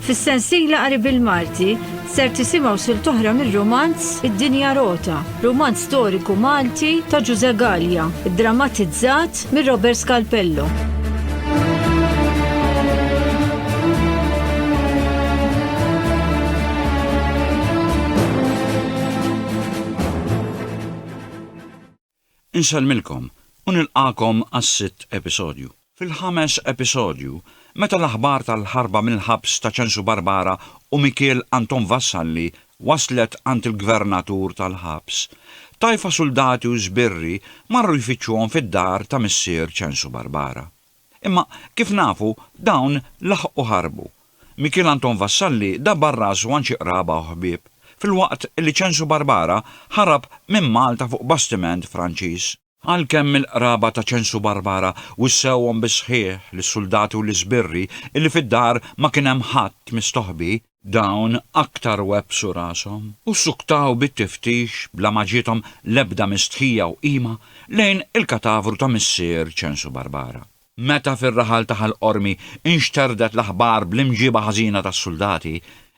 Fis-sensiela qari bil-Malti ser tisimgħu sil toħra mir-romanz Id-Dinja Rota, romanz storiku Malti ta' Ġuże Gallia, drammatizzat mir Robert Scalpello. Insellmilkom u nilqagħkom għas-sitt episodju. Fil-ħames episodju, meta l-aħbar tal-ħarba mill-ħabs ta' Ċensu Barbara u Mikiel Anton Vassalli waslet għand il-gvernatur tal-ħabs, Tajfa suldati u sbirri marru jfittxuhom fid-dar ta' missier Ċensu Barbara. Imma, kif nafu, dawn laħqu ħarbu. Mikiel Anton Vassalli dabbar rasu għand xi qraba u ħbieb, filwaqt li Ċensu Barbara ħarab minn Malta fuq bastiment Franċiż. Għalkemm il-qraba ta' Ċensu Barbara wissewhom bis-sħiħ lis-suldati u lis-sbirri illi fid-dar ma kien hemm ħadd mistoħbi, Dawn aktar webbsu rashom u ssuktaw bit-tiftix bla ma ġiethom l-ebda mistħija u qima lejn il-katavru ta' missier Ċensu Barbara. Meta fir-raħal ta' Ħal Qormi nxterdet l-aħbar bl-imġieba ħażina tas-suldati,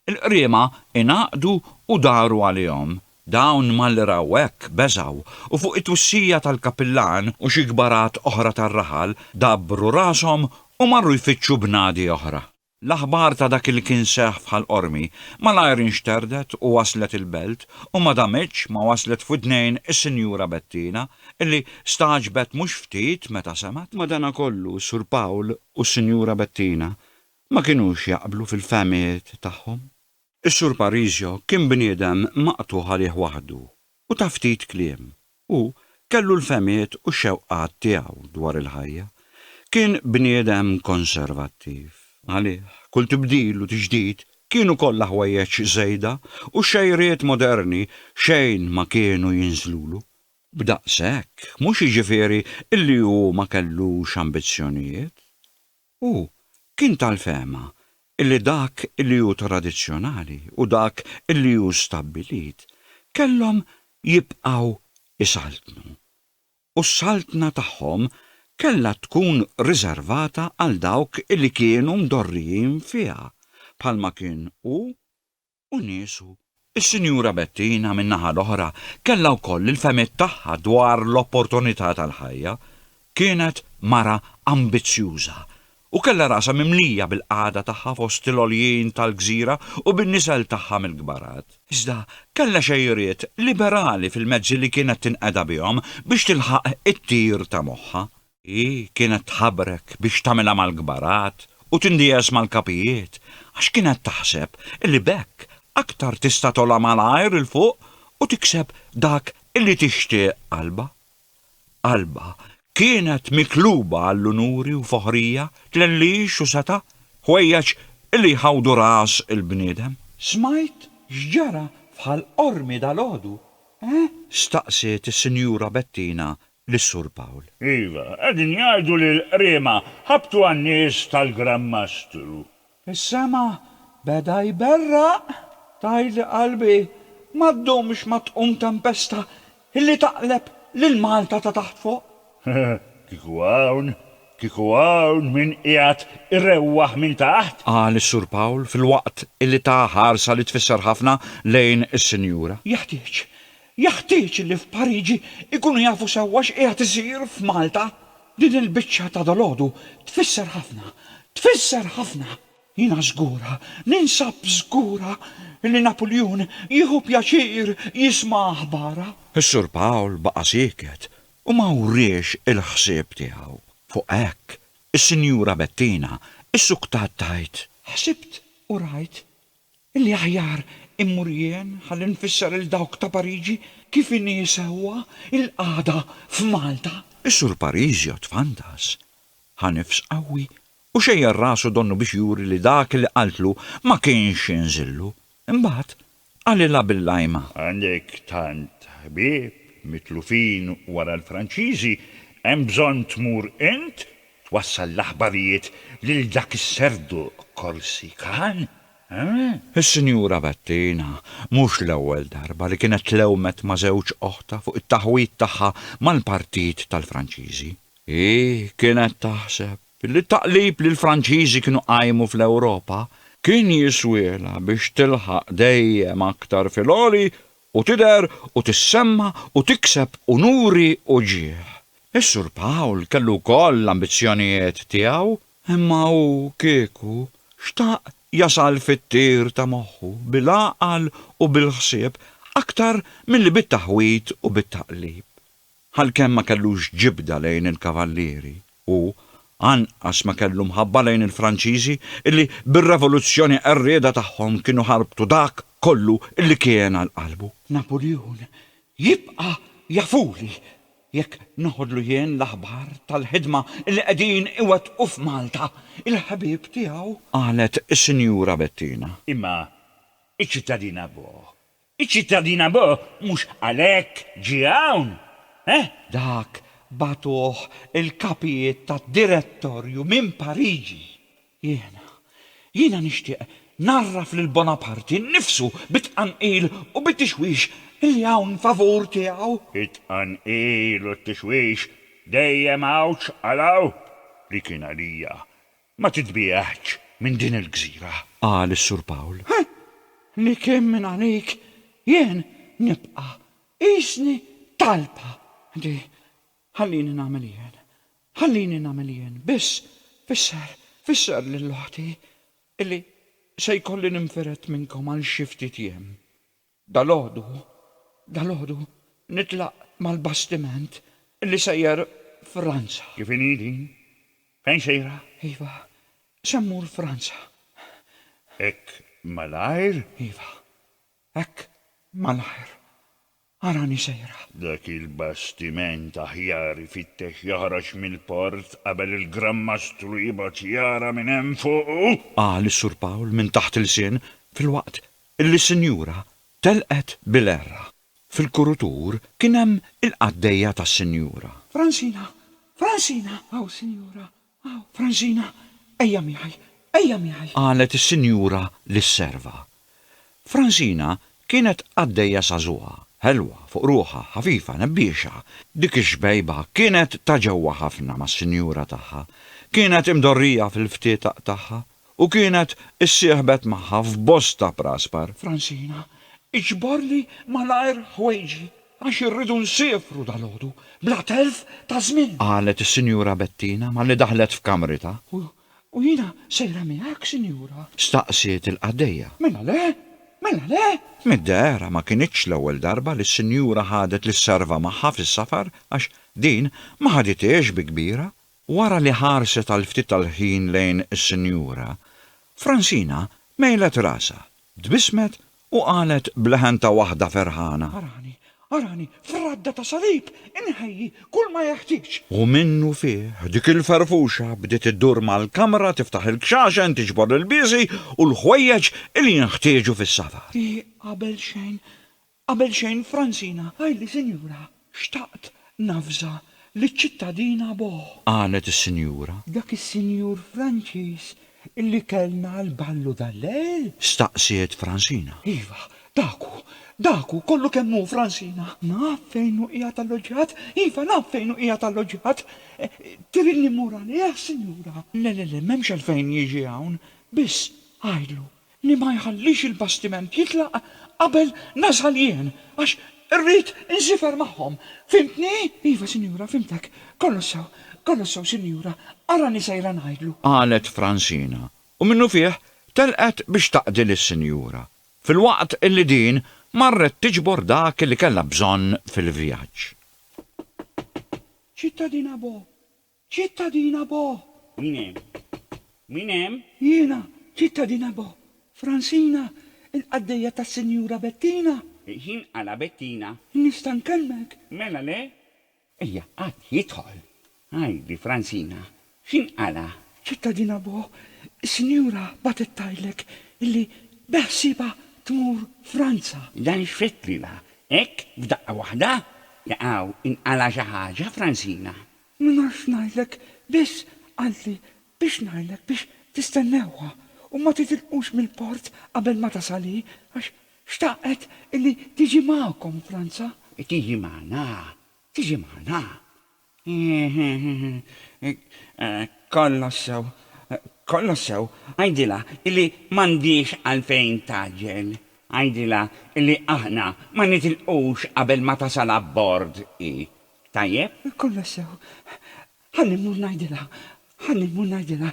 il-qriema ingħaqdu u daru għalihom. Dawn malli raw hekk beżgħu u fuq it-twissija tal-Kapillan u xi kbarat oħra tar-raħal dabbru rashom u marru jfittxu bnadi oħra. L-aħbar ta' dak li kien seħħ f'Ħal Qormi malajr inxterdet u waslet il-Belt u ma damitx ma waslet f'widnejn is-Sinjura Bettina illi stagħġbet mhux ftit meta semgħet. Madanakollu Sur Pawl u s-Sinjura Bettina ma kinux jaqblu fil-fehmiet tagħhom. Is-Sur Parisio kien bniedem maqtugħ għalih waħdu u ta' ftit kliem. Hu kellu l-fehmiet u x-xewqat tiegħu dwar il-ħajja. Kien bniedem konservattiv. Għalih, kull tibdil u tiġdid kienu kollha ħwejjeġ żejda u x-xejriet moderni xejn ma kienu jinżlulu. B'daqshekk, mhux jiġifieri li hu ma kellux ambizzjonijiet. Hu kien tal-fehma li dak li hu tradizzjonali u dak li hu stabbilit kellhom jibqgħu jsaltnu, u s-saltna tagħhom kellha tkun riservata għal dawk li kienu mdorrijin fiha, bħalma kien hu u niesu. Is-Sinjura Bettina, min-naħa l-oħra, kellha wkoll il-fehmiet tagħha dwar l-opportunità tal-ħajja. Kienet mara ambizzjuża u kellha rasha mimlija bil-qagħda tagħha fost il-għoljien tal-gżira u bin-nisel tagħha mill-kbarat. Iżda kellha xejriet liberali fil-mezzi li kienet tinqeda bihom biex tilħaq it-tir ta' moħħha. Hi kienet tħabrek biex tagħmilha mal-kbarat u tindiegħes mal-kapijiet, għax kienet taħseb li b'hekk aktar tista' togħla malajr 'il fuq u tikseb dak li tixtieq qalbha. Qalbha kienet mikluba għall-unuri u foħrija, tlellix u setgħa, ħwejjeġ li jħawdu ras il-bniedem. Smajt x'ġara f'Ħal Qormi dalgħodu, eh? Staqsiet is-Sinjura Bettina lis-Sur Pawl. Iva, qegħdin jgħidu li l-qriema ħabtu għan-nies tal-Gran Mastru. Is-sema beda jberraq, tgħidli qalbi, ma ddumx ma tqum tempesta illi taqleb lil Malta ta' taħt fuq. Kieku hawn, kieku hawn min qiegħed irewwaħ minn taħt! Qal is-Sur Pawl filwaqt illi ta ħarsa li tfisser ħafna lejn is-Sinjura. Jeħtieġ Jeħtieġ li f'Pariġi jkunu jafu sewwa x'qiegħed isir f'Malta. Din il-biċċa ta' dalgħodu tfisser ħafna, tfisser ħafna! Jiena żgura, ninsab żgura li Napuljun jieħu pjaċir jisma' aħbarha. Is-Sur Pawl baqa' sieket u ma wriex il-ħsieb tiegħu. Fuq hekk, is-Sinjura Bettina issuktat tgħid. Ħsibt u rajt Illi aħjar immur jien ħalli nfisser lil dawk ta' Pariġi kif inhi sewwa l-qagħda f'Malta. Is-Sur Pariġi ottfantas. Ħa nifs qawwi u xejjer rasu donnu biex juri li dak li qaltlu ma kienx inżillu. Imbagħad qalilha bil-lajma. Għandek tant ħbieb mitlufin wara l-Franċiżi, hemm bżonn tmur int Twassal l-aħbarijiet lil dak is-serdu Korsikan? Eeh? Is-Sinjura Bettina mhux l-ewwel darba li kienet tlewmet ma' żewġ oħtha fuq it-taħwid tagħha mal-Partit tal-Franċiżi. Hi kienet taħseb li t-taqlib li l-Franċiżi kienu qajmu fl-Ewropa kien jiswielha biex tilħaq dejjem aktar fil-għoli u tidher u tissemma u tikseb unuri u ġieħ. Is-Sur Pawl kellu wkoll l-ambizzjonijiet tiegħu, imma hu kieku xtaq jasal fit-tir ta' moħħu bil-għaqal u bil-ħsieb aktar milli bit-taħwid u bit-taqlib. Għalkemm ma kellux ġibda lejn il-Kavallieri, hu anqas ma kellu mħabba lejn il-Franċiżi illi bir-revoluzzjoni qerrieda tagħhom kienu ħarbtu dak kollu illi kien għal qalbu. Napuljun jibqa' jafuli jekk noħodlu jien l-aħbar tal-ħidma illi qegħdin iwettqu f'Malta il-ħbieb tiegħu. Qalet is-Sinjura Bettina. Imma iċ-ċittadina Bo Iċ-ċittadin Abo mhux għalhekk ġie hawn, eh? Dak bagħtuh il-kapijiet tad-direttorju minn Pariġi. Jiena, jiena nixtieq ngħarraf lil Bonaparte nnifsu bit-tqanqil u bit-tixwix li hawn favur tiegħu. It-tqanqil u t-tixwix dejjem għawġ għal hawn, li kien għalija Ma titbieħx minn din il-gżira! qal is-Sur Pawl. Hi! Li kemm minn għalik jien nibqa' qisni talpa di! Ħallini nagħmel jien! Ħallini nagħmel jien! Biss, fisser, fisser lil oħti illi se jkolli ninfired minnkom għal xi ftit jiem. Dalgħodu, dalgħodu nitlaq mal-bastiment li sejjer Franza. Kif inhi din? Fejn sejra? Iva, se mmur Franza. Hekk malajr? Iva, hekk malajr. Arani sejra. Dak il-bastiment aħjar ifittex joħroġ mill-port qabel il-Gran Mastru jibgħat jara minn hemm fuqu! Qal is-Sur Pawl minn taħt ilsien filwaqt li sinjura telqet bil-għerra. Fil-kurutur kien hemm il-qaddejja tas-sinjura. Francina! Francina! Hawn, sinjura, hawn. Francina, ejja miegħi, ejja miegħi! Qalet is-sinjura lis-serva. Francina kienet qaddejja żagħżugħa, ħelwa fuq ruħha, ħafifa, nebbiexa. Dik ix-xbejba kienet ta' ġewwa ħafna mas-sinjura tagħha. Kienet imdorrija fil-ftit tagħha, u kienet issieħbet magħha f'bosta praspar. Francina, iġborli malajr ħwejġi għax irridu nsiefru dalgħodu bla telf ta' żmien. Qalet is-Sinjura Bettina malli daħlet f'kamritha. U jiena sejra miegħek, Sinjura? Staqsiet il-qaddejja. Mela le! Mela le! Mid-dehra ma kinitx l-ewwel darba li s-Sinjura ħadet lis-serva magħha fis-safar għax din ma ħadithiex bi kbira Wara li ħarset għal ftit tal-ħin lejn is-sinjura, Francina mejlet rasha, tbissmet u qalet b'leħen ta' waħda ferħana. Arani, arani, f'radda ta' salib inħejji kull ma jeħtieġ. U minnufih dik il-ferfuxa bdiet iddur mal-kamra tiftaħ il-kxaxen, tiġbor l-ilbiesi u l-ħwejjeġ li jinħtieġu fis-safar. Hi qabel xejn Qabel xejn Francina, għidli sinjura, xtaqt navża liċ-ċittadina Boh. Qalet is-sinjura. Dak is-sinjur Franċiż illi kellna għall-ballu dal-lejl? Staqsiet Francina. Iva, dak hu, dak hu kollu kemm hu Francina. Naf fejn hu qiegħed alloġġjat, iva naf fejn hu qiegħed alloġġjat. Tridni mmur għalih, sinjura? Le, le, le, m'hemmx għalfejn jiġi hawn. Biss, għidlu, li ma jħallix il-bastiment jitlaq qabel nasal jien, għax irrid insifer magħhom. Fhimtni? Iva, sinjura, fhimtek. Kollox sew, kollox sew, sinjura. Arani sejra ngħidlu. Qalet Francina, u minnufih telqet biex taqdi lis-sinjura, filwaqt li din marret tiġbor dak li kellha bżonn fil-vjaġġ. Ċittadina Bo. Ċittadina Bo! Min hemm? Min hemm? Jiena, Ċittadina Bo! Fransina, il-qaddejja tas-Sinjura Bettina! Ħin għala Bettina? Nista' nkellmek? Mela le? Ejja, ħadd jidħol. Għidli, Fransina, x'inhi għala? Ċittadina Bo, is-Sinjura bagħtet tgħidlek illi beħsiebha tmur Franza. Dan x'fettlilha hekk f'daqqa waħda? Jaqaw, inqala' xi ħaġa, Fransina? Ma nafx ngħidlek, biss qaltli biex ngħidlek biex tistennewha u ma titilqux mill-port qabel ma tasal hi, għax xtaqet illi tiġi magħkom Franza. Tiġi magħna? Tiġi magħna? Kollox sew, kollox sew, għidilha illi m'għandhiex għalfejn tgħaġġel. Għidilha illi aħna ma nitilqux qabel ma tasal abbord hi. Tajjeb? Kollox sew. Ħalli mmur ngħidilha. Ħalli mmur ngħidilha.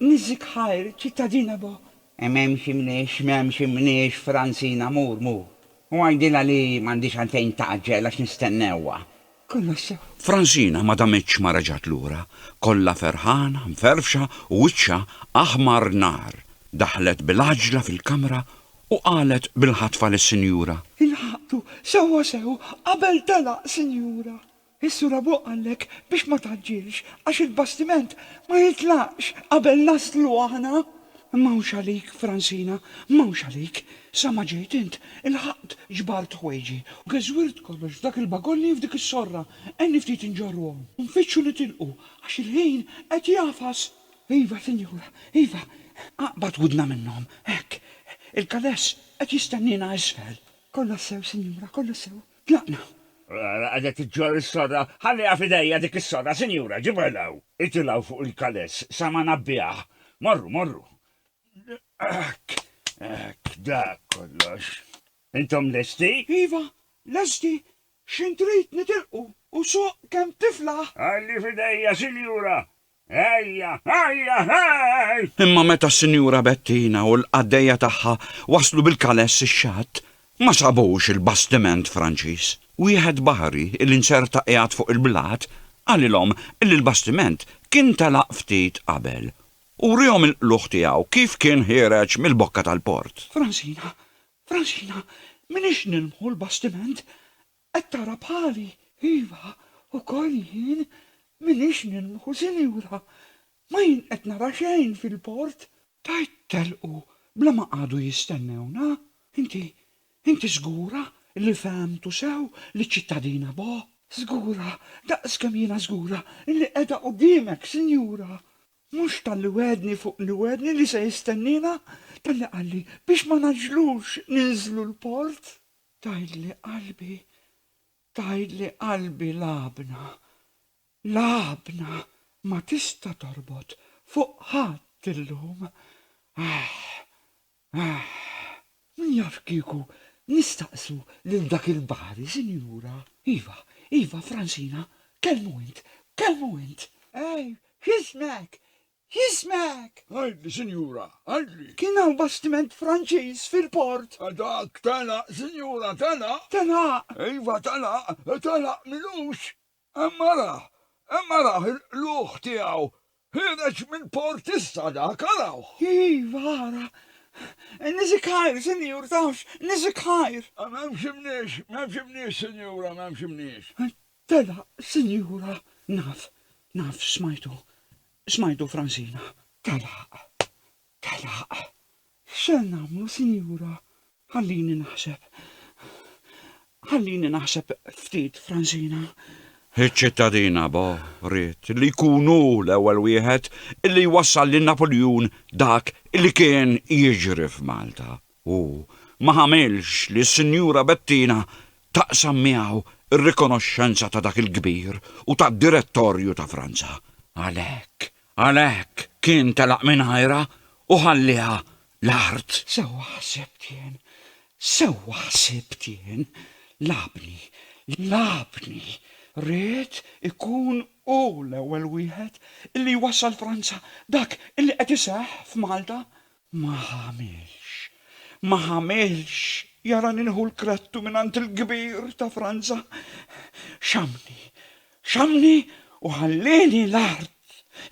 Niżżik ħajr, ċittadina bo. M'hemmx imniex, m'hemmx imniex, Franzina, mur, mur. U għidilha li m'għandhiex għalfejn tgħaġġel għax nistennewha. Kollox sew. Franzina ma damitx ma reġgħet lura, kollha ferħana, mferfxa u wiċċha aħmar nar. Daħlet bil-għaġla fil-kamra U qalet bil-ħatfa lis-sinjura. Ilħaqtu sewwasew qabel telaq, sinjura. Is-sur abuk qallek biex ma tgħaġġilx għax il-bastiment ma jitlaqx qabel naslu aħna. M'hawnx għalik, Fransina, m'hawnx għalik. Sa ma ġejt int, ilħaqt ġbart ħwejġi u geżwirt kollox f'dak il-bagolli u f'dik is-sorra. Għenni ftit inġorruhom u nfittxu nitilqu għax il-ħin qed jagħfas. Iva, sinjura, iva. Aqbad widna minnhom. Hekk. Il-kaless qed jistenniena isfel. Kollox sew, sinjura, kollox sew. Tlaqna. Ara, qiegħda tiġġorr is-sorra. Ħalliha f'idejja dik is-sorra, sinjura, ġibha 'l hawn. Itilgħu fuq il-kaless sa ma ngħabbiha. Morru, morru. Hekk, hekk, dak kollox. Intom lesti? Iva, lesti. X'int trid nitilqu u suq kemm tiflaħ. Ħalli f'idejja, sinjura. Ejja, ejja, ej! Imma meta s-Sinjura Bettina u l-qaddejja tagħha waslu bil-kaless ix-xatt, ma sabux il-bastiment Franċiż. Wieħed baħri li nserta qiegħed fuq il-blat qalilhom li l-bastiment kien telaq ftit qabel, u wriehom il-qlugħ tiegħu kif kien ħiereġ mill-bokka tal-port. Fransina, Fransina, m'inhiex nilmħu l-bastiment? Qed tara bħali? Iva, ukoll jien m'iniex nilmħu, sinjura. Ma jien qed nara xejn fil-port. Tajt telqu bla ma qagħdu jistennewna. Inti, inti żgura li fehemtu sew liċ-ċittadina Bo? Żgura daqs kemm jiena żgura li qiegħda quddiemek, sinjura. Mhux talli wegħedni fuq li wegħedni li se jistenniena, talli qalli biex ma ngħaġġlux ninżlu l-port. Tgħidli qalbi, tgħidli qalbi l-għabna, l-għabna ma tista' torbot fuq ħadd illum. Ahh, ahh. Min jaf kieku nistaqsu lil dak il-baħri, sinjura. Iva, iva, Fransina, kellmu int, kellmu int. Ej, x'ismek? Jismek? Għidli, sinjura, għidli. Kien hawn bastiment Franċiż fil-port. Dak telaq, sinjura, telaq. Telaq? Iva, telaq, telaq m'ilux. Hemm arah, hemm arah il-qlugħ tiegħu. Ħiereġ mill-port issa dak, arawh. Iva, ara. Niżik ħajr, sinjur, tafx, niżik ħajr. M'hemmx imniex, m'hemmx imniex, sinjura, m'hemmx imniex. Tela' sinjura naf, naf smajtu, smajtu Fransina. Tela', tela'. X'ser nagħmlu sinjura? Ħallini naħseb. Ħallini naħseb ftit Fransina. Iċ-ċittadina Bo ried li jkun hu l-ewwel wieħed li jwassal lil Napuljun dak li kien jiġri f'Malta. u ma għamilx li s-Sinjura Bettina taqsam miegħu r-rikonoxxenza ta' dak il-kbir u tad-direttorju ta' Franza. Għalhekk, għalhekk kien telaq mingħajrha u ħallieha l-art. Sewwa ħsibt jien, sewwa ħsibt jien, lagħabni, lagħabni, ried ikun hu l-ewwel wieħed li jwassal Franza dak li qed iseħħ f'Malta. Ma għamilx, ma għamilx, jara nieħu l-krattu mingħand il-kbir ta' Franza. Xammni, xammni u ħallieni l-art.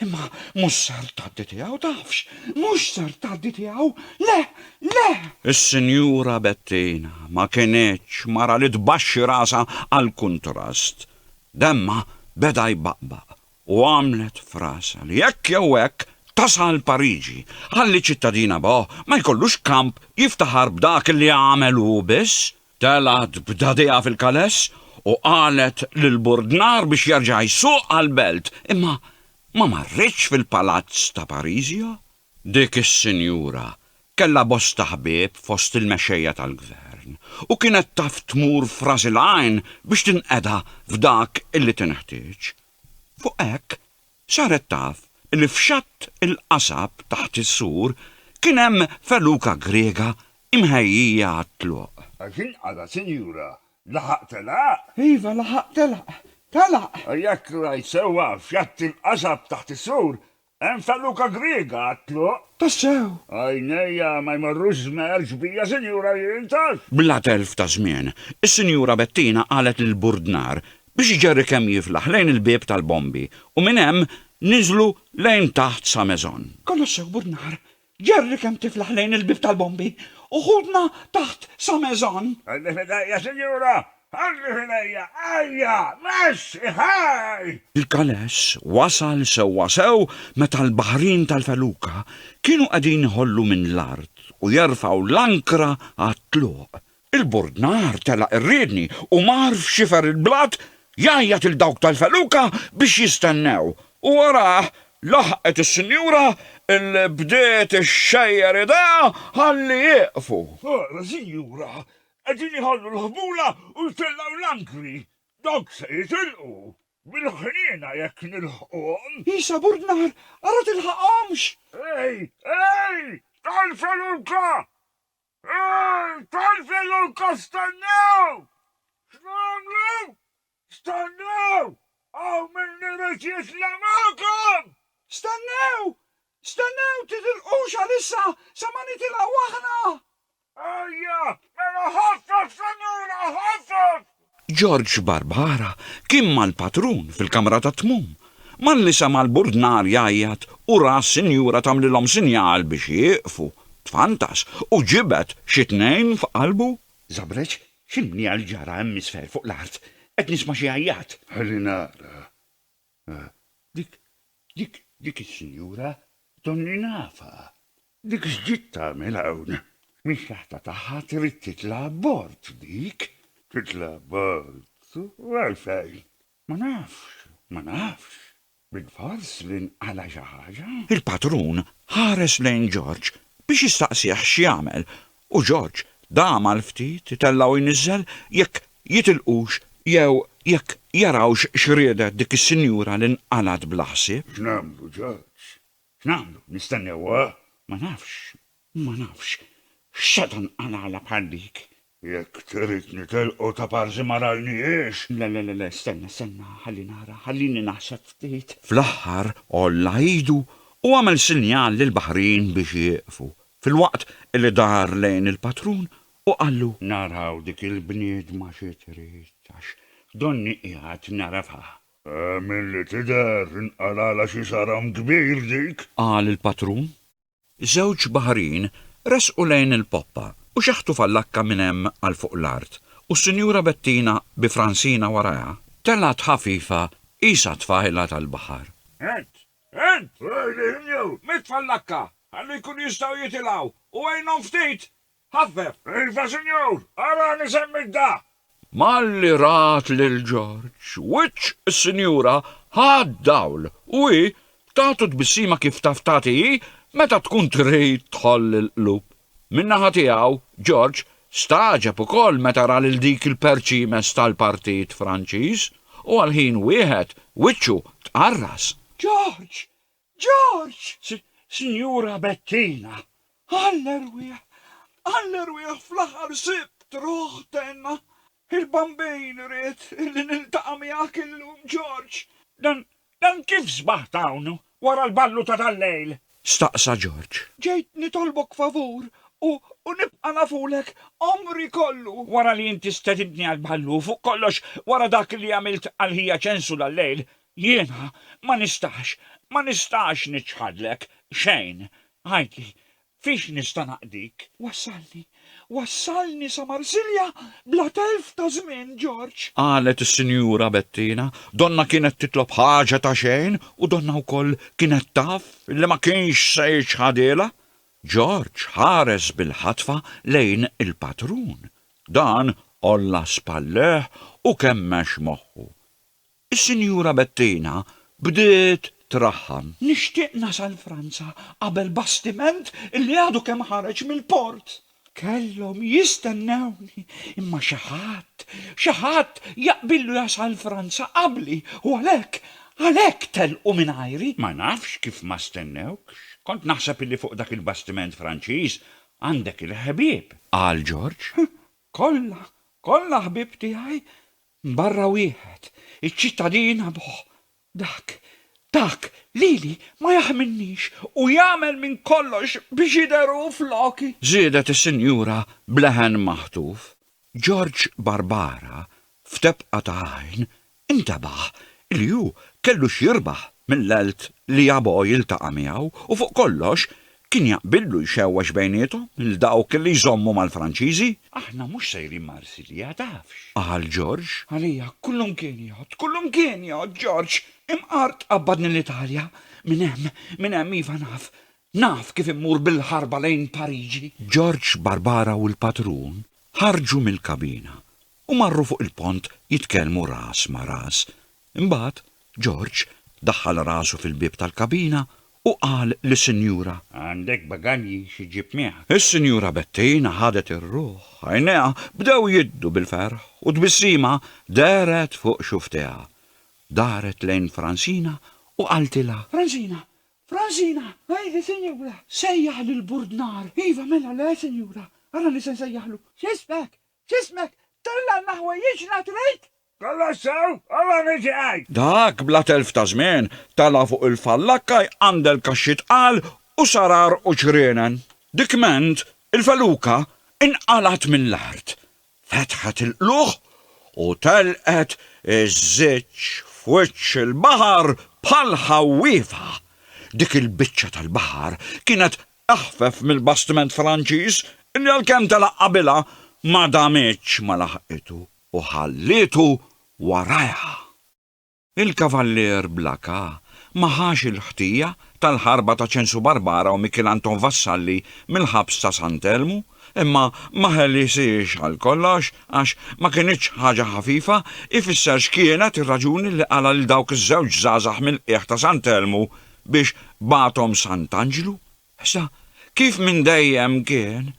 Imma mhux ser tgħaddi tiegħu tafx, mhux ser tgħaddi tiegħu, le, le! Is-Sinjura Bettina ma kinitx mara li tbaxxi rasha għall-kuntrast. Demmha beda jbaqbaq u għamlet f'rasha li hekk jew hekk tasal Pariġi, ħalli ċ-ċittadin Abo ma jkollux kamp jiftaħar b'dak li għamel hu biss, telgħet b'dagħdiha fil-kaless u qalet lil Burdnar biex jerġa' jsuq għall-belt, imma ma marritx fil-palazz ta' Parisio. Dik is-sinjura kellha bosta ħbieb fost il-mexxejja tal-gvern u kienet taf tmur f'ras il-għajn biex tinqeda f'dak illi tinħtieġ. Fuq hekk, saret taf illi f'xatt il-qasab taħt is-sur kien hemm feluka Griega imħejjija għat-tluq. Għax inqala, Sinjura, laħaq telaq? Iva, laħaq telaq. Telaq! Jekk rajt sewwa, f'xatt il-qasab taħt is-sur Hemm feluka griega għat-tluq? Tassew! Għajnejja ma jmorrux żmerġ bija Sinjura jien, taf! Bla telf ta' żmien, is-Sinjura Bettina qalet lill-burdnar biex iġerri kemm jiflaħ lejn il-bieb tal-bombi u minn hemm niżlu lejn taħt sa maison. Kollox sew, burdnar! Jerry kemm tiflaħ lejn il-bieb tal-bombi, u ħutna taħt sa Maison. Ħalli f'idejja, sinjura! Ħalli f'idejja! Ajja! Mexxi! Ħaj! Il-Calais wasal sewwasew meta l-baħrin tal-feluka kienu qegħdin iħollu minn l-art u jerfgħu l-ankra għat-tluq Il-burdnar telaq ir-riedni u mar f'xifer il-blat jgħajjat lil dawk tal-feluka biex jistennew, u wara laħqet is-sinjura li bdiet ixxejjer idejha ħalli jieqfu. Ara, sinjura, qegħdin iħallu l-ħbula u jtellgħu l-ankri. Dawk se jitilqu, bil-ħniena jekk nilħquhom. Isa, burdnar, ara tilħaqhomx! Ej, ej, tal-feluka! Ej, tgħalfel u lkoll stennew! X'nagħmlu? Stennew! Hawn min irid jitlaq magħkom! Stennew! Stennew, titilqux għalissa sa ma nitilgħu aħna! Ejja, mela ħaffef, senjura, ħaffef! George Barbara kien mal-patrun fil-kamra tat-tmum, malli sema' l-burdnar jgħajjat u ra s-sinjura tagħmlilhom sinjal biex jieqfu, tfantas u ġibed xi tnejn f'qalbu. Żabreġ, x'inhi għal ġara hemm isfel fuq l-art? Qed nisma' xi għajjat. Ħalli nara. Ah, dik, dik, dik is-sinjura donni nafha. Dik x'ġiet tagħmel hawn? Mix-xaħta tagħha trid titla' abbord, dik. Titla' abbord? U għalfejn? Ma nafx, ma nafx. Bilfors li nqala' xi ħaġa? Il-patrun ħares lejn George biex jistaqsih x'jagħmel u George dam għal ftit itellgħu jniżżel jekk jitilqux jew jekk jarawx x'riedet dik is-sinjura li nqalgħet bla ħsieb. X'nagħmlu, George? X'nagħmlu? Nistennewha? Ma nafx, ma nafx. X'seta' nqalgħalha bħal dik? Jekk trid nitilqu taparsi ma rajnihiex! Le, le, le, stenna, stenna, ħalli nara, ħallini naħseb ftit. Fl-aħħar għolla idu u għamel sinjal lill-baħrin biex jieqfu. Filwaqt li dar lejn il-patrun u qallu. Naraw dik il-bniedma xi trid, għax donni qiegħed nagħrafha. Milli tidher, inqalgħalha xi saram kbir dik! Qal il-patrun. Żewġ baħrin resqu lejn il-poppa u xaħtu fallakka minn hemm għal fuq l-art, u s-Sinjura Bettina bi Fransina warajha, telgħet ħafifa qisha tfajla tal-baħar. Għedt! Int! Għidilhom jew. Mitfa' l-lakka, ħalli jkunu jistgħu jitilgħu, u għinhom ftit! Ħaffef! Iva, sinjur! Arani semmit da! Malli rat lil Ġorġ, wiċċ is-sinjura ħa d-dawl u hi tagħtu tbissima kif taf tagħti hi meta tkun trid tħoll il-qlub. Min-naħa tiegħu, George stagħġeb ukoll meta ra lil dik il-perċimes tal-Partit Franċiż u għal ħin wieħed wiċċu tqarras. George! George! Sinjura Bettina! Għall-erwieħ! Għall-erwieħ fl-aħħar sibt ruħ tenna! Il-Bambin ried li niltaqa' miegħek illum, George. Dan, dan kif sbaħt hawn, wara l-ballu ta' dal-lejl? staqsa George. Ġejt nitolbok favur u, u nibqa' nafulek għomri kollu! Wara li inti stedintni għall-ballu u fuq kollox wara dak li għamilt għal ħija Ċensu dal-lejl, jiena ma nistax, ma nistax niċħadlek xejn. Għidli, Fiex nista' naqdik? Wassalni, wassalni sa Marsilja bla telf ta' żmien, Ġorġ! Qalet is-Sinjura Bettina, donnha kienet titlob ħaġa ta' xejn u donnha wkoll kienet taf li ma kienx se jiċħadilha. Ġorġ ħares bil-ħatfa lejn il-patrun. Dan għolla spallejh u kemmex moħħu. Is-Sinjura Bettina bdiet traħħan. Nixtieq nasal Franza qabel bastiment li għadu kemm ħareġ mill-port. Kellhom jistennewni, imma xi ħadd, xi ħadd jaqbillu jasal Franza qabli u għalhekk, għalhekk telqu mingħajri. Ma nafx kif ma stennewkx. Kont naħseb li fuq dak il-bastiment Franċiż għandek il-ħbieb. Qal George. Kollha, kollha ħbieb tiegħi barra wieħed, iċ-ċittadin Abuh. Dak, dak lili ma jaħminnix u jagħmel minn kollox biex jidher hu floki! Żiedet is-Sinjura b'leħen maħtuf. George Barbara, f'tebqa ta' għajn, Intebaħ li hu kellu x'jirbaħ mill-għelt li Abo jiltaqa' miegħu u fuq kollox kien jaqbillu jxewwex bejniethom lil dawk li jżommu mal-Franċiżi. Aħna mhux sejrin Marsilja, tafx! qal George. Għalija, kullumkien jgħodd, kullumkien jgħodd George! Imqar tqabbadni l-Italja! Minn hemm, minn hemm, iva naf, naf kif immur bil-ħarba lejn Pariġi! George, Barbara u l-patrun ħarġu mill-kabina u marru fuq il-pont jitkellmu ras ma' ras. Imbagħad, George daħħal rasu fil-bieb tal-kabina u qal lis-Sinjura. Għandek bagalji xi ġġib miegħek? Is-Sinjura Bettina ħadet ir-ruħ, għajnejha bdew jiddu bil-ferħ u tbissima dehret fuq xufftejha. Daret lejn Fransina u qaltilha. Fransina! Fransina! Għidi, Sinjura! Sejjaħ lil Burdnar! Iva, mela, le, Sinjura! Ara li se nsejjaħlu! X'ismek? Ġismek tellgħanna ħwejjiġna trid? Kollox sew, ora niġi għid! Dak bla telf ta' żmien tela' fuq il-fallakka jqandel kaxxi tqal u sarar u ċrienen. Dikment il-feluka inqalgħet mill-art, fetħet il-qlugħ u telqet iżżiġ f'wiċċ il-baħar bħal ħawwiefa. Dik il-biċċa tal-baħar kienet eħfef mill-bastiment Franċiż li għalkemm telaq qabilha, ma damitx ma laħqitu u ħallietu warajha. Il-Kavallier Blacà ma ħax il-ħtija tal-ħarba ta' Ċensu Barbara u Mikiel Anton Vassalli mill-ħabs ta' San Elmu, imma ma ħelisiex għal kollox għax ma kinitx ħaġa ħafifa jfisser x'kienet ir-raġuni li qala' lil dawk iż-żewġ żgħażagħ mill-qiegħ ta' San Elmu biex bagħathom Sant'Anġlu? Issa, kif minn dejjem kien,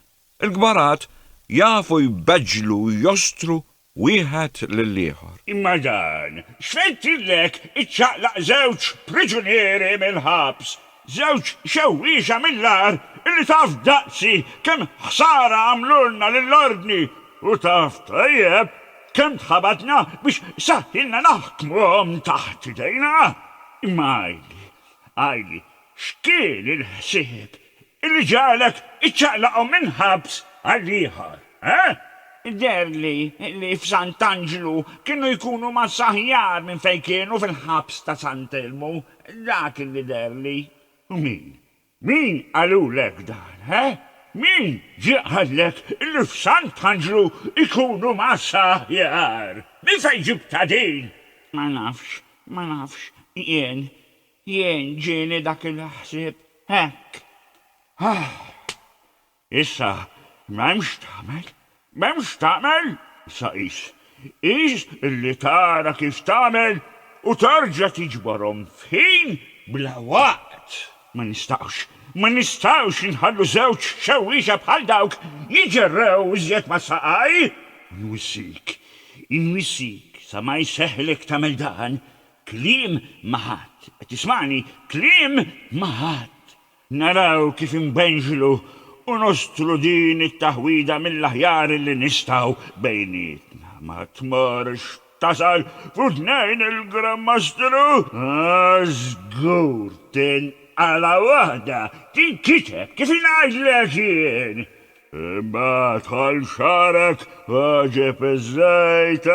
il-kbarat jafu jbeġġlu u jostru wieħed lill-ieħor. Imma dan x'fejtirlek iċċaqlaq żewġ priġunieri mill-ħabs, żewġ xewwiexa mill-agħar illi taf daqsi kemm ħsara għamlulna lill-ordni! U taf tajjeb kemm tħabatna biex saħħilna naħkmuhom taħt idejna! Imma għidli, għidli, x'kien il-ħsieb illi ġagħlek iċċaqlaqhom minn ħabs għal ieħor, eh? Deherli li f'Sant'Anġlu kienu jkunu massa aħjar minn fejn kienu fil-ħabs ta' Sant'Elmu, dak illi deherli. U min? Min qalulek dan, he? Min ġie qallek li f'Sant'Anġlu jkunu mgħassa aħjar? Minn fejn ġibtha din? Ma nafx, ma nafx, jien, jien ġieni dak il-ħsieb hekk. Ahh! Issa, m'hemm x'tagħmel, m'hemm x'tagħmel, sa qis. Qis li tara kif tagħmel u terġa' tiġborhom f'ħin bla waqt. Ma nistgħux, ma nistgħux inħallu żewġ xewwiexa bħal dawk jiġerrew iżjed ma' saqaj! Inwissik, inwissik sa ma jseħħlek tagħmel dan, kliem ma' ħadd, qed tismagħni, kliem ma' ħadd! Naraw kif inbenxlu u nostru din it-taħwida mill-aħjar li nistgħu bejnietna. Ma tmorrx tasal fuq tnejn il-Gran Mastru? Ah, żgur tinqala' waħda, tinkiteb kif ngħidlek jien! Imbagħad ħall xagħrek għaġeb iż-żejt,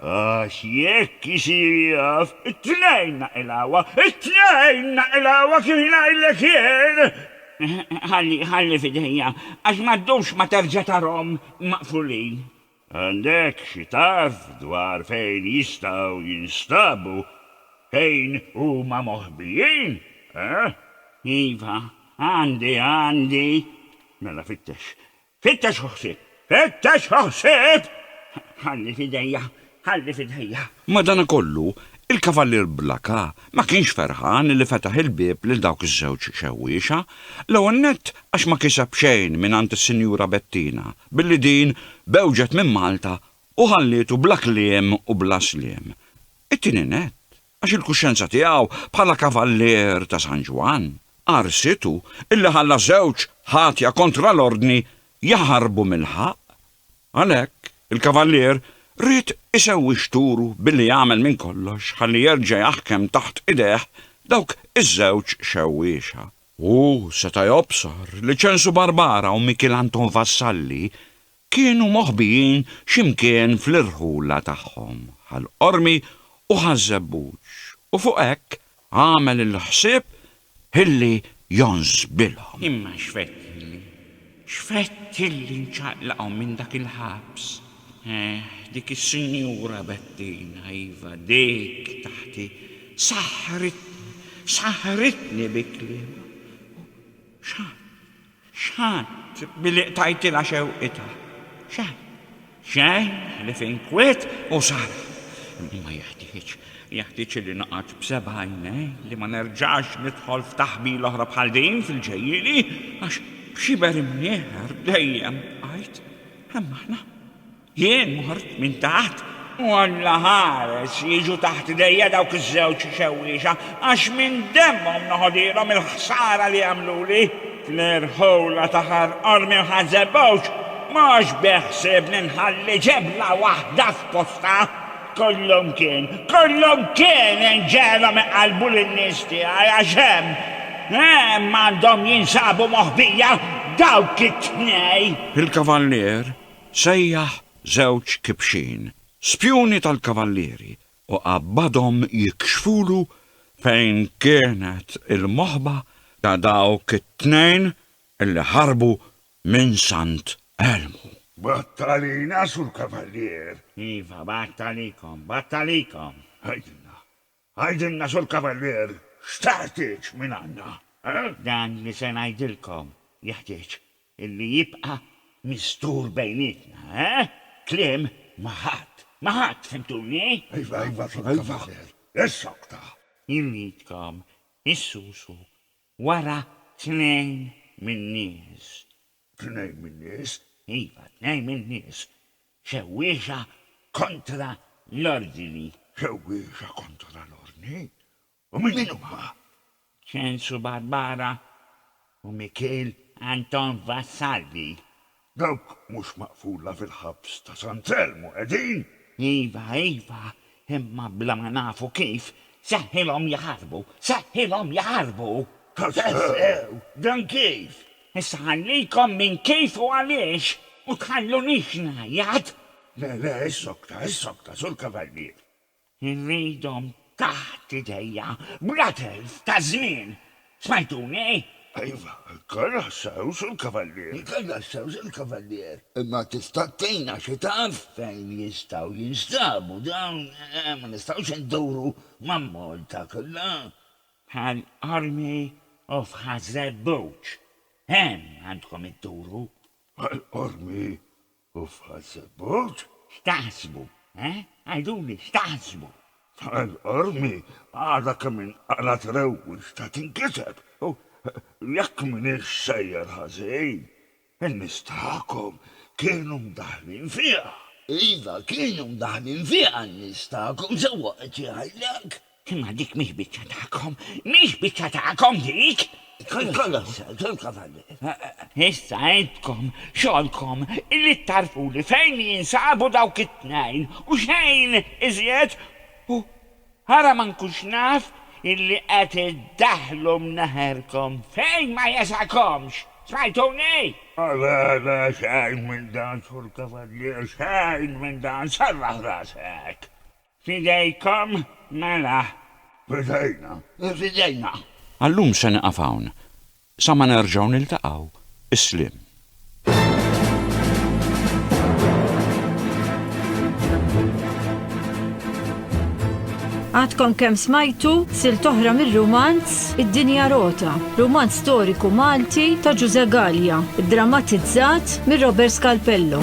għax jekk isir jaf, it-tnejn naqilgħuha, it-tnejn naqilgħuha kif ngħidlek jien! Ħalli, ħalli f'idejja, għax ma ddumx ma terġa' tarahom maqfulin. Għandek xi tarf dwar fejn jistgħu jinstabu, fejn huma moħbijin, eh? Iva, għandi, għandi. Mela fittex. Fittex u ħsib! Fittex u ħsib! Ħalli f'idejja, ħalli f'idejja. Madanakollu, il-Kavallier Blaka Ma kienx ferħan li fetaħ il-bieb lil dawk iż-żewġ xewwiexa, l-ewwel nett għax ma kiseb xejn mingħand is-Sinjura Bettina billi din bewġet minn Malta u ħallietu bla kliem u bla sliem. It-tieni nett għax il-kuxjenza tiegħu bħala kavallier ta' San Ġwann qarsitu illi ħalla żewġ ħatja kontra l-ordni jaħarbu mill-ħaqq Għalhekk, il-kavallier ried isewwix turu billi jagħmel minn kollox ħalli jerġa' jaħkem taħt idejh dawk iż-żewġ xewwiexa. Hu seta' jobsor li Ċensu Barbara u Mikiel Anton Vassalli kienu moħbijin xi mkien fl-irħula tagħhom, Ħal Qormi u Ħaż-Żebbuġ, u fuq hekk Għamel il-ħsieb ħilli jonżbilhom. Imma x'fett ħilli. X'fett ħilli nċaqlaqhom minn dak il-ħabs. Eħ, dik is-sinjura Bettina, iva, dik taħti, saħħritni, saħħritni bi kliemha. U x'għad? X'ħadt billi qtajtilha xewqitha? Xejn. Xejn ħlief inkwiet u saraf. Imma ma jeħtieġ. Jeħtieġ li noqgħod b'seba' għajnejn li ma nerġax nidħol f'taħbila oħra bħal din fil-ġejjieni għax b'xiber imnieħer dejjem bqajt. Hemm aħna. Jien mort minn taħt u Alla ħares li jiġu taħt idejja dawk iż-żewġ xewwiexa, għax minn demmhom noħodilhom il-ħsara li għamluli. Claire Howla ta' Ħar Qormi u Ħal Żebbuġ, Mhux bi ħsiebni nħalli ġebla waħda f'postha. Kollumkien, kollumkien inġegħelhom iqallbu lin-nies tiegħi għax hemm, hemm għandhom jinsabu moħbija dawk it-tnejn. Il-Kavallier Sejjaħ żewġ kibxin, spjuni tal-kavallieri, u qabbadhom jikxfulu fejn kienet il-moħba ta' dawk it-tnejn li ħarbu minn Sant Elmu. B'għadd għalina, Sur Kavallier! Iva, b'għadd għalikom, b'għadd għalikom! Għidilna, Għidilna Sur Cavalier, x'teħtieġ mingħandna, eh? Dan li se ngħidilkom jeħtieġ illi jibqa' mistur bejnietna, eh? Kliem ma' ħadd, ma' ħadd, fimtuni? Iva, iva, Sur Cavalier, issokta! Irridkom issusu wara tnejn min-nies. Tnejn min-nies? Iva, tnejn min-nies. Xewwiexa kontra l-ordni. Xewwiexa kontra l-ordni? U minn min huma? Ċensu Barbara u Mikiel Anton Vassalli. Dawk mhux maqfula fil-ħabs ta' San Telmu, qegħdin? Iva, iva, Imma bla ma nafu kif, seħħilhom jaħarbu! Seħħilhom jaħarbu! Tassew! Dan kif? Issa ħallikom minn kif u għaliex, u tħallunix ngħajjat! Le, le, issokta, issokta, Sur Kavallier! Irridhom taħt idejja, bla telf ta' żmien! Smajtuni? Iva, il-karra ħsawx il-kavallier. Il-karra ħsawx il-kavallier. Imma tista' tgħinna xi taf fejn jistgħu jinstabu dawn? Ma nistgħux induru ma' Malta kollha? Bħal Army of Hazebouch. Hemm għandkom idduru. Bħal Army Uffazebot, x'taħsbu, eh? Għiduli, x'taħsbu? Tal qormi, għadha kemm inqalgħet rewwix ta' tinkiseb, u jekk m'iniex sejjer ħażin, in-nies tagħkom kienu mdaħħlin fiha. Iva, kienu mdaħħlin fiha n-nies tagħkom sewwa, qed jgħidlek. Imma dik mhix biċċa tagħkom, mhix biċċa tagħkom dik! Kollox, kolkom għandi. Issa intkom, xogħolkom li tagħrfuli fejn jinsabu dawk it-tnejn u xejn iżjed u ara ma nkunx naf illi qed iddaħħlu mneħerkom fejn ma jesakomx! Smajtuni? Le, le, xejn minn dan, Sur Kavallier, xejn minn dan, serraħ rasek! F'idejkom, mela. F'idejna, f'idejna. Għal-lum se nieqaf hawn. Sa ma nerġgħu niltaqgħu, is-sliem. Għadkom kemm smajtu silta oħra mir-rumanz, Ħadd, Id-Dinja Rota, rumanz storiku Malti ta' Ġużè Galea, iddramatizzat minn Robert Scalpello.